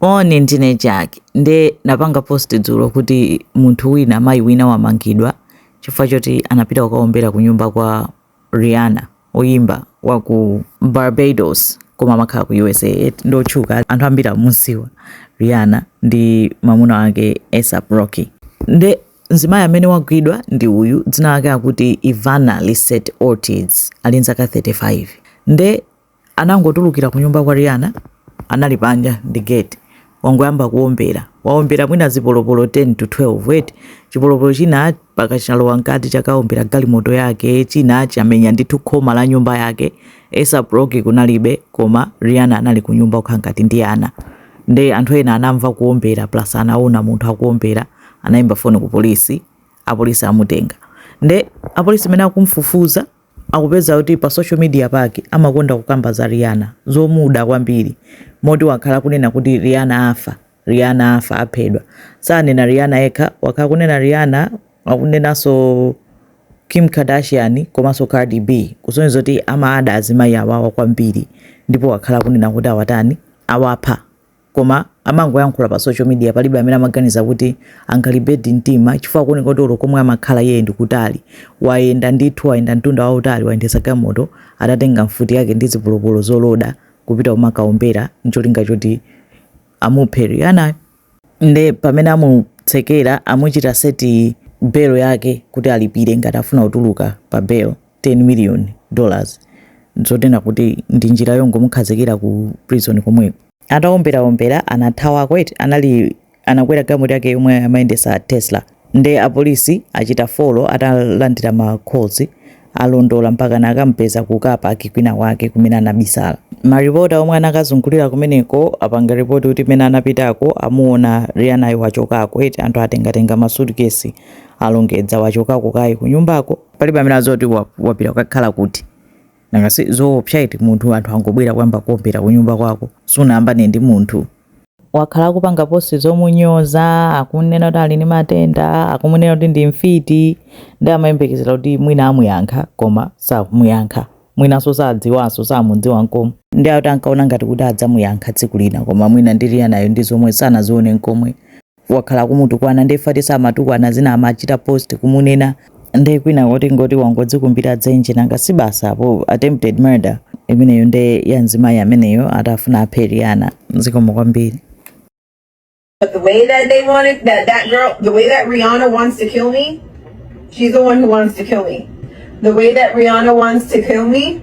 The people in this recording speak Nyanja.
Moni ndine Jack nde napanga post dzulo kuti munthu wina mayi wina wamangidwa chifukwa choti anapita kukaombera ku nyumba kwa Rihanna oyimba wa ku Barbados koma amakhala ku USA eti ndi otchuka anthu ambiri amamuziwa Rihanna ndi mamuna wake ASAP Rocky nde mzimayi amene wagwidwa ndi uyu dzina lake akuti Ivana Lisette Ortiz ali nzaka 35 nde anangotulukira kunyumba kwa Rihanna anali panja ndi gate wangoyamba kuombera waombera mwina zipolopolo 10 to 12 eti chipolopolo china paka chalowa mkati chakaombera galimoto yake china chamenya ndithu khoma la nyumba yake ASAP Rocky kunalibe koma Rihanna anali kunyumba kukhala ngati ndi ana nde anthu ena anamva kuombera plus anaona munthu akuombera anayimba foni ku polisi apolisi amutenga nde apolisi amene akumfufuza Akupeza kuti pa social media pake amakonda kukamba za Rihanna zomuda kwambiri moti wakhala akunena kuti Rihanna afa, Rihanna afa, aphedwa. Sanena Rihanna yekha, wakhala akunena Rihanna, akunenanso Kim Kardashian komanso Cardi B kusonyeza kuti amada azimayi awawa kwambiri ndipo wakhala akunena kuti awatani, awapha. koma amangoyankhula pa social media palibe amene amaganiza kuti angalimbedi mtima chifukwa kukuoneka kuti olo komwe amakhala iye ndi kutali wayenda ndithu wayenda mtunda wautali wayendetsa galimoto atatenga mfuti yake ndi zipolopolo zoloda kupita kumakaombera ncholinga choti amuphe Rihanna nde pamene amutsekera amuchita seti belo yake kuti alipire ngati afuna kutuluka pa belo 10 million dollars zotena kuti ndi njira yongomukhazikira ku prison komweko. Atawomberawombera anathawako eti anali anakwera galimoto yake yomwe amayendesa Tesla nde apolisi achita follow atalandira ma calls alondola mpaka anakampeza ku car park kwina kwake kumene anabisala. Maripota omwe anakazungulira kumeneko apanga report kuti mene anapitako amuona Rihannayo wachokako eti anthu atengatenga ma suitcase alongedza wachokako kaye kunyumbako. palibe amene adziwa zoti wapita kukakhala kuti nanga si zoopsa eti munthu anthu angobwera kuyamba kuombera kunyumba kwako sunayambane ndi munthu wakhala akupanga posti zomunyoza akunena kuti ali ndi matenda akumunena kuti ndi mfiti nde amayembekezera kuti mwina amuyankha koma samuyankha mwinanso sadziwanso samudziwa nkomwe nde akuti ankaona ngati kuti adzamuyankha tsiku lina koma mwina ndi Rihannayo ndi zomwe sanazione nkomwe wakhala akumutukwana nde fati samatukwana zina amachita post kumunena nde kwinako tingoti wangodzikumbira dzenje nanga si basi apo attempted murder imeneyo nde ya mzimayi ameneyo atafuna aphe Rihanna zikomo kwambiri But the way that they wanted that that girl, the way that Rihanna wants to kill me, she's the one who wants to kill me. The way that Rihanna wants to kill me,